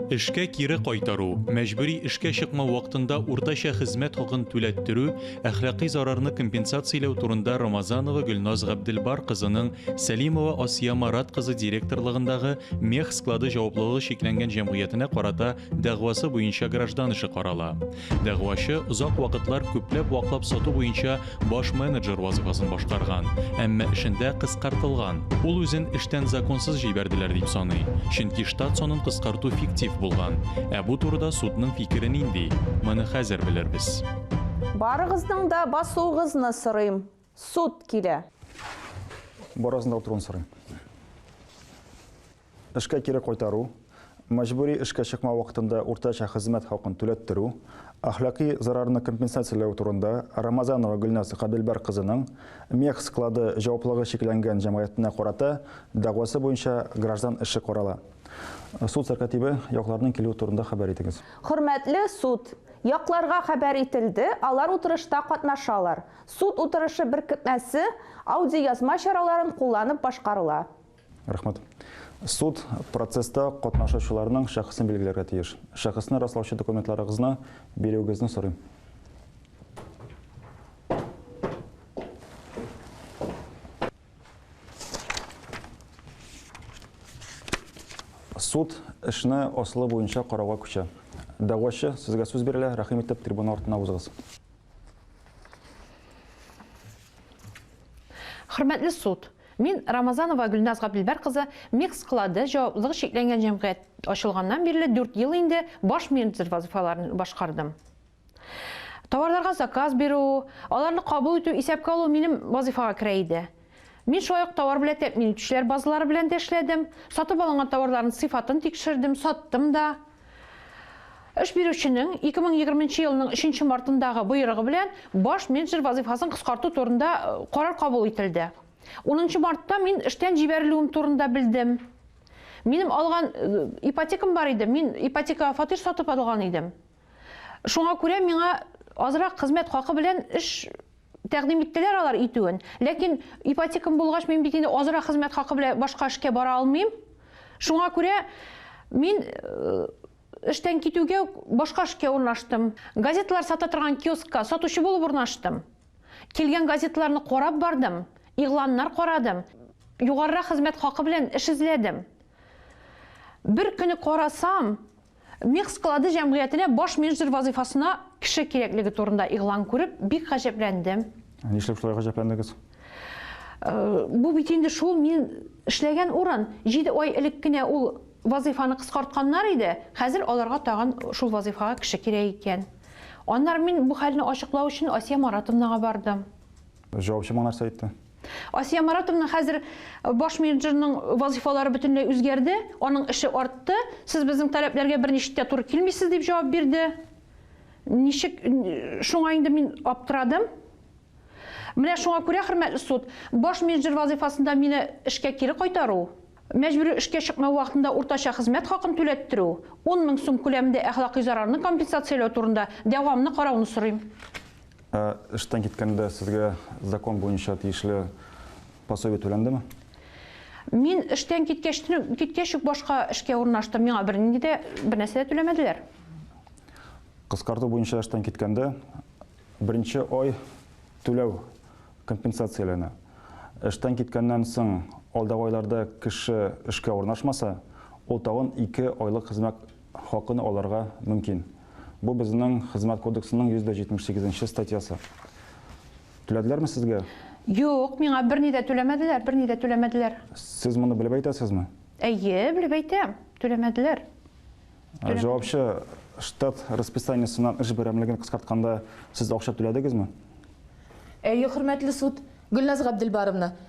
Эшкә кире кайтару, мәҗбүри эшкә чыкмау вакытында уртача хезмәт хакын түләттерү, әхлакый зарарны компенсацияләү турында Рамазанова Гөлназ Габделбар кызының Сәлимова Асия Марат кызы директорлыгындагы Мех склады җаваплылыгы чикләнгән җәмгыятенә карата дәгъвасы буенча граждан эше карала. Дәгъвачы озак вакытлар күпләп ваклап сату буенча баш менеджер вазыйфасын башкарган, әмма эшендә кыскартылган. Ул үзен эштән законсыз җибәрделәр дип саный, чөнки штат санын кыскарту фиктив булган. Ә бу турыда судның фикере нинди? Моны хәзер белербез. Барыгызның да басуыгызны сорыйм. Суд килә! Барысын утыруын сорыйм. Эшкә кире кайтару, мәҗбүри эшкә чыкма вакытында уртача хезмәт хакын түләттерү, әхлакый зарарны компенсацияләү турында Рамазанова Гөлназ Габелбар кызының Мех склады җаваплыгы чикләнгән җәмгыятенә карата дәгъвасы буенча граждан эше карала. Суд сәркатибе, якларның килүе турында хәбәр итегез. Хөрмәтле суд! Якларга хәбәр ителде, алар утырышта катнашалар. Суд утырышы беркетмәсе аудиоязма чараларын кулланып башкарыла. Рәхмәт. Суд процесста катнашучыларның шәхесен билгеләргә тиеш. Шәхесне раслаучы документларыгызны бирүегезне сорыйм. Суд эшне асылы буенча карауга күчә. Дәгъвачы, сезгә сүз бирелә, рәхим итеп, трибуна артына узыгыз. Хөрмәтле суд, мин Рамазанова Гөлназ Габделбәр кызы Мех склады җаваплылыгы чикләнгән җәмгыять ачылганнан бирле дүрт ел инде баш менеджер вазыйфаларын башкардым. Товарларга заказ бирү, аларны кабул итү, исәпкә алу минем вазыйфага керә иде. Мин шулай ук товар белән тәэмин итүчеләр базалары белән дә эшләдем, сатып алынган товарларның сыйфатын тикшердем, саттым да. Эш бирүченең 2020 нче елның 3 нче мартындагы боерыгы белән баш менеджер вазыйфасын кыскарту турында карар кабул ителде. 10 нчы мартта мин эштән җибәрелүем турында белдем. Минем алган ипотекам бар иде, мин ипотекага фатир сатып алган идем. Шуңа күрә миңа азрак хезмәт хакы белән эш Тәкъдим иттеләр алар итүен. Ләкин ипотекам булгач, мин бит инде азрак хезмәт хакы белән башка эшкә бара алмыйм. Шуңа күрә мин эштән китүгә башка эшкә урнаштым. Газеталар сата торган киоскка сатучы булып урнаштым. Килгән газеталарны карап бардым, игъланнар карадым, югарырак хезмәт хакы белән эш эзләдем. Бер көне карасам, Мех склады җәмгыятенә баш менеджер вазыйфасына кеше кирәклеге турында игълан күреп, бик гаҗәпләндем. Нишләп шулай гаҗәпләндегез? Бу бит инде шул мин эшләгән урын. Җиде ай элек кенә ул вазыйфаны кыскартканнар иде, хәзер аларга тагын шул вазыйфага кеше кирәк икән. Аннары мин бу хәлне ачыклау өчен Асия Маратовнага бардым. Җавапчы моңа нәрсә әйтте? Асия Маратовна хәзер баш менеджерның вазифалары бөтенләй үзгәрде, аның эше артты. Сез безнең таләпләргә берничек тә туры килмисез дип җавап бирде. Ничек шуңа инде мин аптырадым. Менә шуңа күрә, хөрмәтле суд, баш менеджер вазифасында мине эшкә кире кайтару, мәҗбүри эшкә чыкмау вакытында уртача хезмәт хакын түләттерү, 10 мең сум күләмендә әхлакый зарарны компенсацияләү турында дәвамны карауны сорыйм. Ә эштән киткәндә сезгә закон буенча тиешле пособие түләндеме? Мин эштән киткәч, киткәч үк башка эшкә урнаштым. Миңа бернинди дә бернәрсә дә түләмәделәр. Кыскарту буенча эштән киткәндә беренче ай түләү компенсацияләнә. Эштән киткәннән соң алдагы айларда кеше эшкә урнашмаса, ул тагын ике айлык хезмәт хакын алырга мөмкин. Бу безнең Хезмәт кодексының 178 нче статьясы. Түләделәрме сезгә? Юк, миңа берни дә түләмәделәр, берни дә түләмәделәр. Сез моны белеп әйтәсезме? Әйе, белеп әйтәм, түләмәделәр. Ә җавапчы штат расписаниесеннән эш берәмлеген кыскартканда сез акча түләдегезме? Әйе, хөрмәтле суд, Гөлназ Габделбаровна.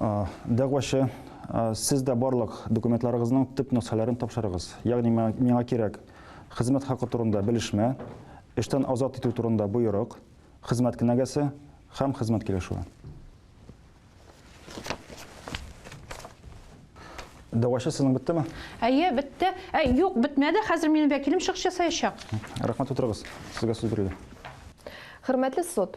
Дәгъвачы, сез дә барлык документларыгызның төп нөсхәләрен тапшырыгыз. Ягъни миңа кирәк хезмәт хакы турында белешмә, эштән азат итү турында боерык, хезмәт кенәгәсе һәм хезмәт килешүе. Дәгъвачы сезнең беттеме? Әйе, бетте. Ә, юк, бетмәде. Хәзер минем вәкилем чыгыш ясаячак. Рәхмәт, утырыгыз. Сезгә сүз бирелә. Хөрмәтле суд,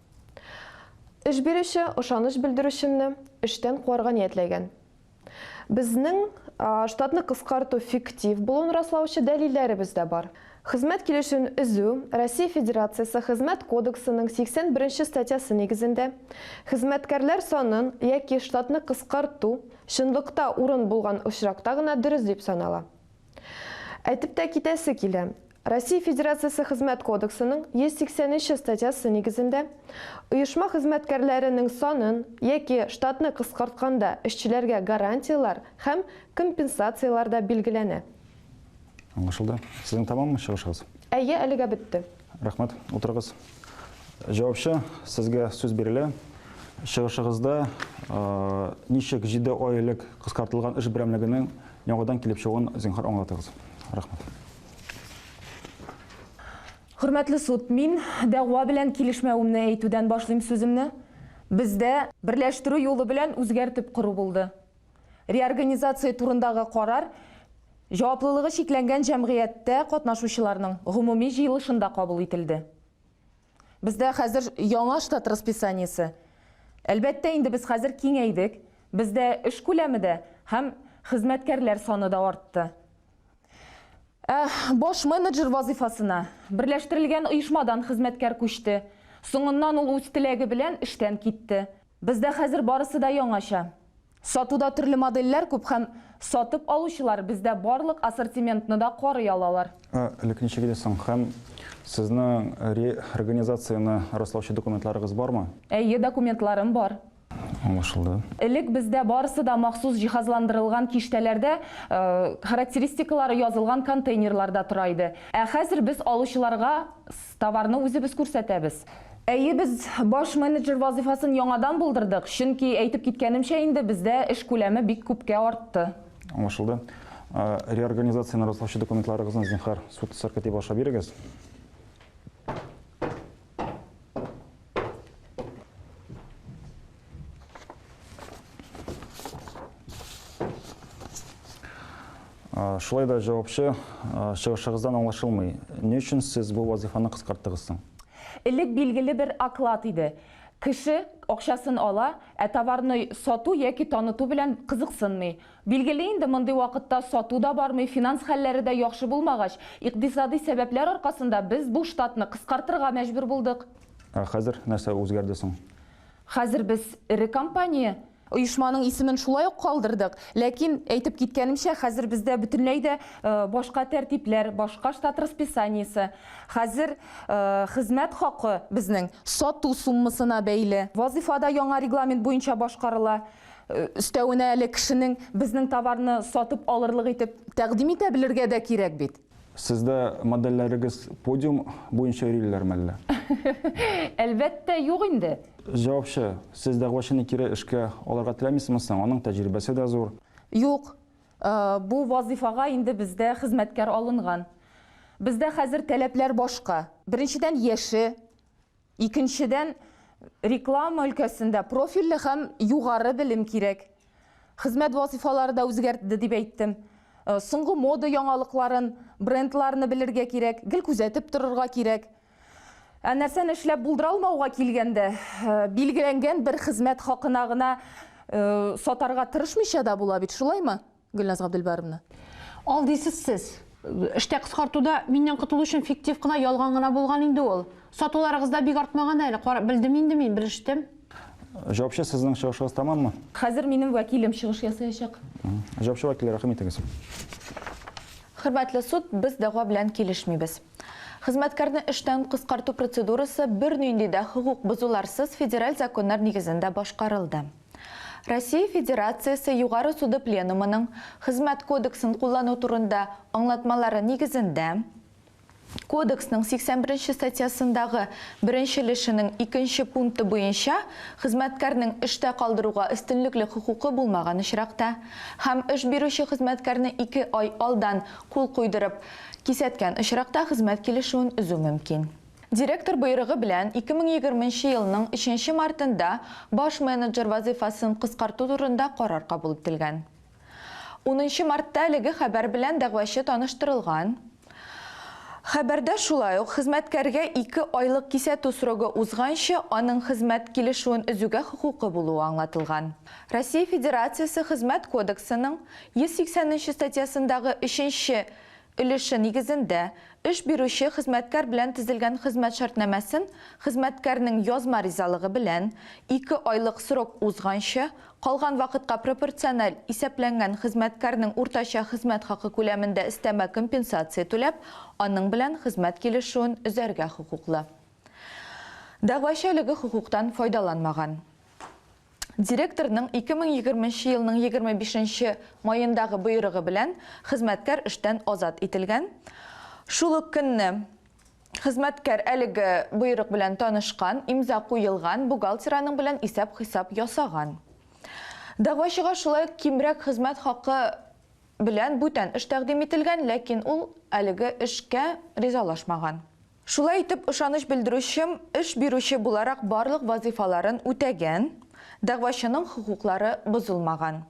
Эш бирүче ышаныч белдерүчемне эштән куарга ниятләгән. Безнең штатны кыскарту фиктив булуын раслаучы дәлилләребез дә бар. Хезмәт килешүен өзү Россия Федерациясе Хезмәт кодексының 81 нче статьясы нигезендә хезмәткәрләр санын яки штатны кыскарту чынлыкта урын булган очракта гына дөрес дип санала. Әйтеп тә китәсе килә, Россия Федерациясе Хезмәт кодексының 180 нче статьясы нигезендә, оешма хезмәткәрләренең санын яки штатны кыскартканда эшчеләргә гарантияләр һәм компенсацияләр дә билгеләнә. Аңлашылды. Сезнең тәмаммы чыгышыгыз? Әйе, әлегә бетте. Рәхмәт. Утырыгыз. Җавапчы, сезгә сүз бирелә. Чыгышыгызда ничек җиде ай элек кыскартылган эш берәмлегенең яңадан килеп чыгуын зинһар аңлатыгыз. Рәхмәт. Хөрмәтле суд, мин дәгъва белән килешмәвемне әйтүдән башлыйм сүземне. Бездә берләштерү юлы белән үзгәртеп кору булды. Реорганизация турындагы карар җаваплылыгы чикләнгән җәмгыятьтә катнашучыларның гомуми җыелышында кабул ителде. Бездә хәзер яңа штат расписаниесе. Әлбәттә, инде без хәзер киңәйдек, бездә эш күләме дә һәм хезмәткәрләр саны да артты. Ә баш менеджер вазыйфасына берләштерелгән оешмадан хезмәткәр күчте. Соңыннан ул үз теләге белән эштән китте. Бездә хәзер барысы да яңача. Сатуда төрле модельләр күп һәм сатып алучылар бездә барлык ассортиментны да карый алалар. Ә элек ничек иде соң? Һәм сезнең ре организацияне раслаучы документларыгыз бармы? Әйе, документларым бар. Аңлашылды. Элек бездә барысы да махсус җиһазландырылган киштәләрдә характеристикалары язылган контейнерларда тора иде. Ә хәзер без алучыларга Товарны үзебез күрсәтәбез. Әйе, без баш менеджер вазыйфасын яңадан булдырдык, чөнки, әйтеп киткәнемчә инде, бездә эш күләме бик күпкә артты. Аңлашылды. Реорганизацияне раслаучы документларыгызны, зинһар, суд сәркатибы аша бирегез. Шулай да җавапчы чыгышыгыздан аңлашылмый. Ни өчен сез бу вазифаны кыскарттыгыз соң? Элек билгеле бер оклад иде. Кеше акчасын ала, ә товарны сату яки таныту белән кызыксынмый. Билгеле инде, мондый вакытта сату да бармый, финанс хәлләре дә яхшы булмагач, икъдисадый сәбәпләр аркасында без бу штатны кыскартырга мәҗбүр булдык. Ә хәзер нәрсә үзгәрде соң? Хәзер без эре компания. Оешманың исемен шулай ук калдырдык. Ләкин, әйтеп киткәнемчә, хәзер бездә бөтенләй дә башка тәртипләр, башка штат расписаниесе. Хәзер хезмәт хакы безнең сату суммасына бәйле. Вазыйфа да яңа регламент буенча башкарыла. Өстәвенә әле кешенең безнең товарны сатып алырлык итеп тәкъдим итә белергә дә кирәк бит. Сездә модельләрегез подиум буенча йөриләрме әллә? Әлбәттә, юк инде. Җавапчы, Сез дәгъвачыны кире эшкә алырга теләмисезме соң? Аның тәҗрибәсе дә зур. Юк. Бу вазыйфага инде бездә хезмәткәр алынган. Бездә хәзер таләпләр башка. Беренчедән, яше. Икенчедән, реклама өлкәсендә профильле һәм югары белем кирәк. Хезмәт вазыйфалары да үзгәртде, дип әйттем. Соңгы мода яңалыкларын, брендларны белергә кирәк, гел күзәтеп торырга кирәк. Ә нәрсәне эшләп булдыра алмауга килгәндә, билгеләнгән бер хезмәт хакына гына сатарга тырышмыйча да була бит, шулаймы? Гөлназ Габделбаровна. Ал дисез сез. Эштә кыскартуда миннән котылу өчен фиктив кына, ялган гына булган инде ул. Сатуларыгыз да бик артмаган әле, кара, белдем инде мин, белештем. Җавапчы, сезнең чыгышыгыз тәмаммы? Хәзер минем вәкилем чыгыш ясаячак. Җавапчы вәкил, рәхим итегез. Хөрмәтле суд, без дәгъва белән килешмибез. Хезмәткәрне эштән кыскарту процедурасы бернинди дә хокук бозуларсыз федераль законнар нигезендә башкарылды. Россия Федерациясе Югары суды Пленумының Хезмәт кодексын куллану турында аңлатмалары нигезендә, Кодексның 81 нче статьясындагы беренче өлешенең икенче пункты буенча хезмәткәрнең эштә калдыруга өстенлекле хокукы булмаган очракта һәм эш бирүче хезмәткәрне ике ай алдан кул куйдырып кисәткән очракта хезмәт килешүен өзү мөмкин. Директор боерыгы белән 2020 нче елның 3 нче мартында баш менеджер вазыйфасын кыскарту турында карар кабул ителгән. Унынчы мартта әлеге хәбәр белән дәгъвачы таныштырылган. Хәбәрдә шулай ук хезмәткәргә ике айлык кисәтү срогы узганчы аның хезмәт килешүен өзүгә хокукы булуы аңлатылган. Россия Федерациясе Хезмәт кодексының 180 нче статьясындагы өченче өлеше нигезендә эш бирүче хезмәткәр белән төзелгән хезмәт шартнамәсен хезмәткәрнең язма ризалыгы белән ике айлык срок узганчы, калган вакытка пропорциональ исәпләнгән хезмәткәрнең уртача хезмәт хакы күләмендә өстәмә компенсация түләп, аның белән хезмәт килешүен өзәргә хокуклы. Дәгъвачы әлеге хокуктан файдаланмаган. Директорның 2020 нче елның 25 нче маендагы боерыгы белән хезмәткәр эштән азат ителгән. Шул ук көнне хезмәткәр әлеге боерык белән танышкан, имза куелган бухгалтер аның белән исәп-хисап ясаган. Дәгъвачыга шулай ук кимрәк хезмәт хакы белән бүтән эш тәкъдим ителгән, ләкин ул әлеге эшкә ризалашмаган. Шулай итеп, ышаныч белдерүчем, эш бирүче буларак барлык вазыйфаларын үтәгән, дәгъвачының хокуклары бозылмаган.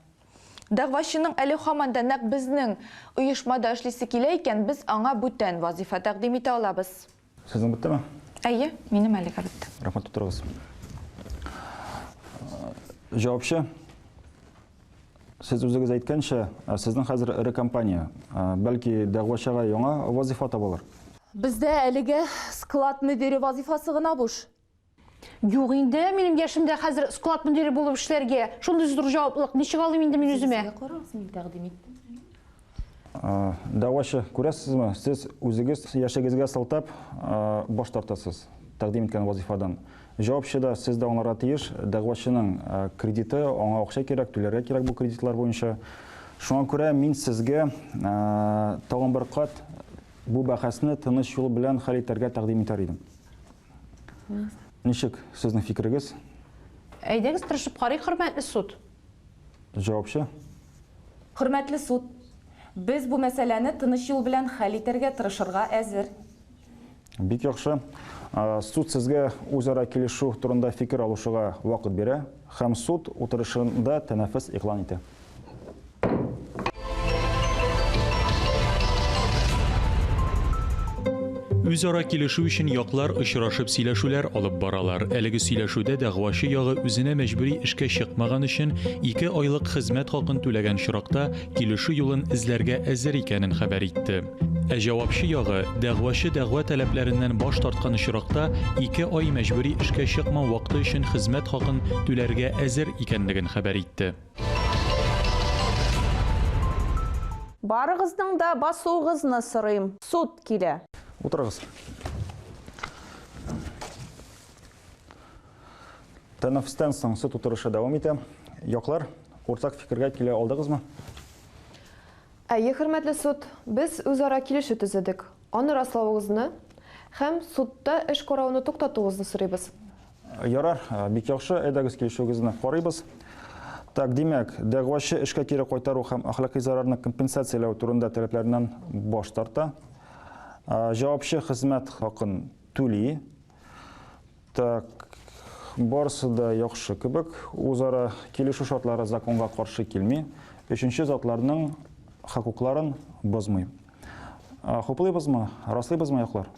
Дәгъвачының әле һаман да нәкъ безнең оешмада эшлисе килә икән, без аңа бүтән вазыйфа тәкъдим итә алабыз. Сезнең беттеме? Әйе, минем әлегә бетте. Рәхмәт, утырыгыз. Җавапчы. Сез үзегез әйткәнчә, сезнең хәзер эре компания. Бәлки дәгъвачыга яңа вазифа табылыр? Бездә әлегә склад мөдире вазифасы гына буш. Юк инде, минем яшемдә хәзер склад мөдире булып эшләргә. Шундый зур җаваплылык ничек алыйм инде мин үземә? Сезгә карарбыз, мин тәкъдим иттем. Дәгъвачы, күрәсезме, сез үзегез яшегезгә сылтап баш тартасыз тәкъдим иткән вазифадан. Җавапчы да, сез дә аңларга тиеш, дәгъвачының кредиты, аңа акча кирәк, түләргә кирәк бу кредитлар буенча. Шуңа күрә мин сезгә тагын бер кат бу бәхәсне тыныч юл белән хәл итәргә тәкъдим итәр идем. Ничек, сезнең фикерегез? Әйдәгез, тырышып карыйк, хөрмәтле суд. Җавапчы. Хөрмәтле суд, без бу мәсьәләне тыныч юл белән хәл итәргә тырышырга әзер. Бик яхшы. Суд сезгә үзара килешү турында фикер алышуга вакыт бирә һәм суд утырышында тәнәфес игълан итә. Үзара килешү өчен яклар очрашып сөйләшүләр алып баралар. Әлеге сөйләшүдә дәгъвачы ягы үзенә мәҗбүри эшкә чыкмаган өчен ике айлык хезмәт хакын түләгән чоракта килешү юлын эзләргә әзер икәнен хәбәр итте. Ә җавапчы ягы дәгъвачы дәгъва таләпләреннән баш тарткан очракта ике ай мәҗбүри эшкә чыкмау вакыты өчен хезмәт хакын түләргә әзер икәнлеген хәбәр итте. Барыгызның да басуыгызны сорыйм. Суд килә. Утырыгыз. Тәнәфестән соң суд утырышы дәвам итә. Яклар, уртак фикергә килә алдыгызмы? Әйе, хөрмәтле суд, без үзара килешү төзедек. Аны раславыгызны һәм судта эш карауны туктатуыгызны сорыйбыз. Ярар, бик яхшы, әйдәгез килешүегезне карыйбыз. Так, димәк, дәгъвачы эшкә кире кайтару һәм әхлакый зарарны компенсацияләү турында таләпләреннән баш тарта. Җавапчы хезмәт хакын түли. Так, барысы да яхшы кебек. Үзара килешү шартлары законга каршы килми. Өченче затларның хокукларын бозмый. Хуплыйбызмы, раслыйбызмы яклар?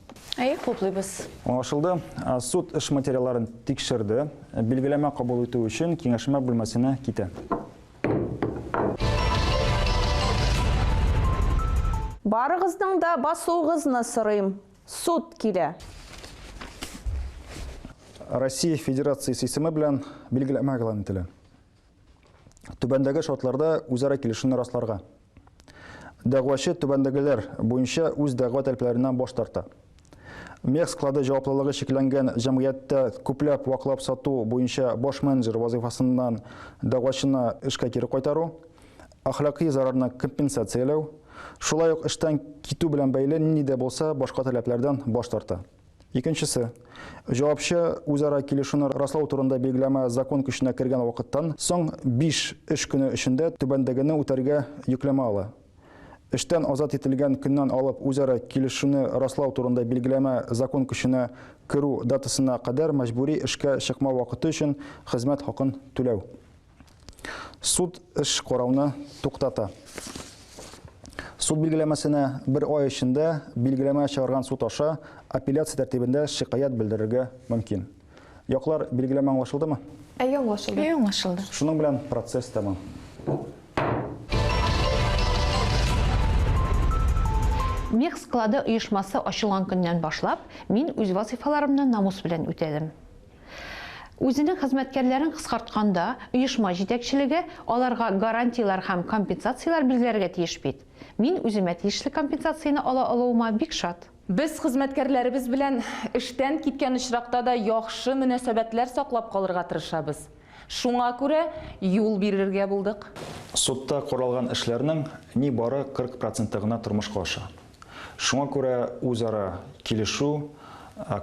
Әйе, хуплыйбыз. Аңлашылды. Суд эш материалларын тикшерде. Билгеләмә кабул итү өчен киңәшмә бүлмәсенә китә. Барыгызның да басуыгызны сорыйм. Суд килә. Россия Федерациясе исеме белән билгеләмә игълан ителә. Түбәндәге шартларда үзара килешүне расларга. Дәгъвачы түбәндәгеләр буенча үз дәгъва таләпләреннән баш тарта. Мех склады җаваплылыгы чикләнгән җәмгыятьтә күпләп ваклап сату буенча баш менеджер вазыйфасыннан дәгъвачына эшкә кире кайтару, әхлакый зарарны компенсацияләү, шулай ук эштән китү белән бәйле нинди дә булса башка таләпләрдән баш тарта. Икенчесе, җавапчы үзара килешүне раслау турында билгеләмә закон көченә кергән вакыттан соң биш эш көне эчендә түбәндәгене үтәргә йөкләмә ала. Эштән азат ителгән көннән алып үзара килешүне раслау турында билгеләмә закон көченә керү датасына кадәр мәҗбүри эшкә чыкмау вакыты өчен хезмәт хакын түләү. Суд эш карауны туктата. Суд билгеләмәсенә бер ай эчендә билгеләмә чыгарган суд аша апелляция тәртибендә шикаять белдерергә мөмкин. Яклар билгеләмә аңлашылдымы? Әйе, аңлашылды. Әйе, аңлашылды. Шуның белән процесс тәмам. Мех склады оешмасы ачылган көннән башлап, мин үз вазыйфаларымны намус белән үтәдем. Үзенең хезмәткәрләрен кыскартканда, оешма җитәкчелеге аларга гарантияләр һәм компенсацияләр билгеләргә тиеш бит. Мин үземә тиешле компенсацияне ала алуыма бик шат. Без хезмәткәрләребез белән эштән киткән очракта да яхшы мөнәсәбәтләр саклап калырга тырышабыз. Шуңа күрә юл бирергә булдык. Судта каралган эшләрнең нибары 40 проценты гына тормышка аша. Шуңа күрә үзара килешү,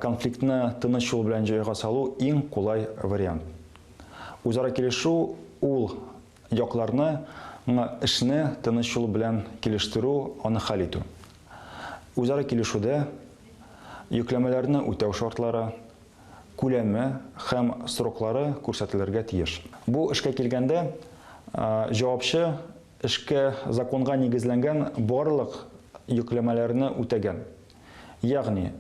конфликтны тыныч юл белән җайга салу иң кулай вариант. Үзара килешү ул якларны ңа эшне тыныч юл белән килештерү, аны хәл итү. Үзара килешүдә йөкләмәләрне үтәү шартлары, күләме һәм сроклары күрсәтелергә тиеш. Бу эшкә килгәндә, җавапчы эшкә законга нигезләнгән барлык йөкләмәләрне үтәгән, ягъни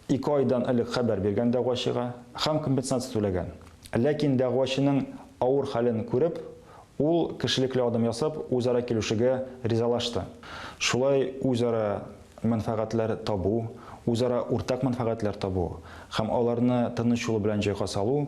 ике айдан элек хәбәр биргән дәгъвачыга һәм компенсация түләгән. Ләкин дәгъвачының авыр хәлен күреп, ул кешелекле адым ясап, үзара килешүгә ризалашты. Шулай үзара мәнфәгатьләр табу, үзара уртак мәнфәгатьләр табу һәм аларны тыныч юл белән җайга салу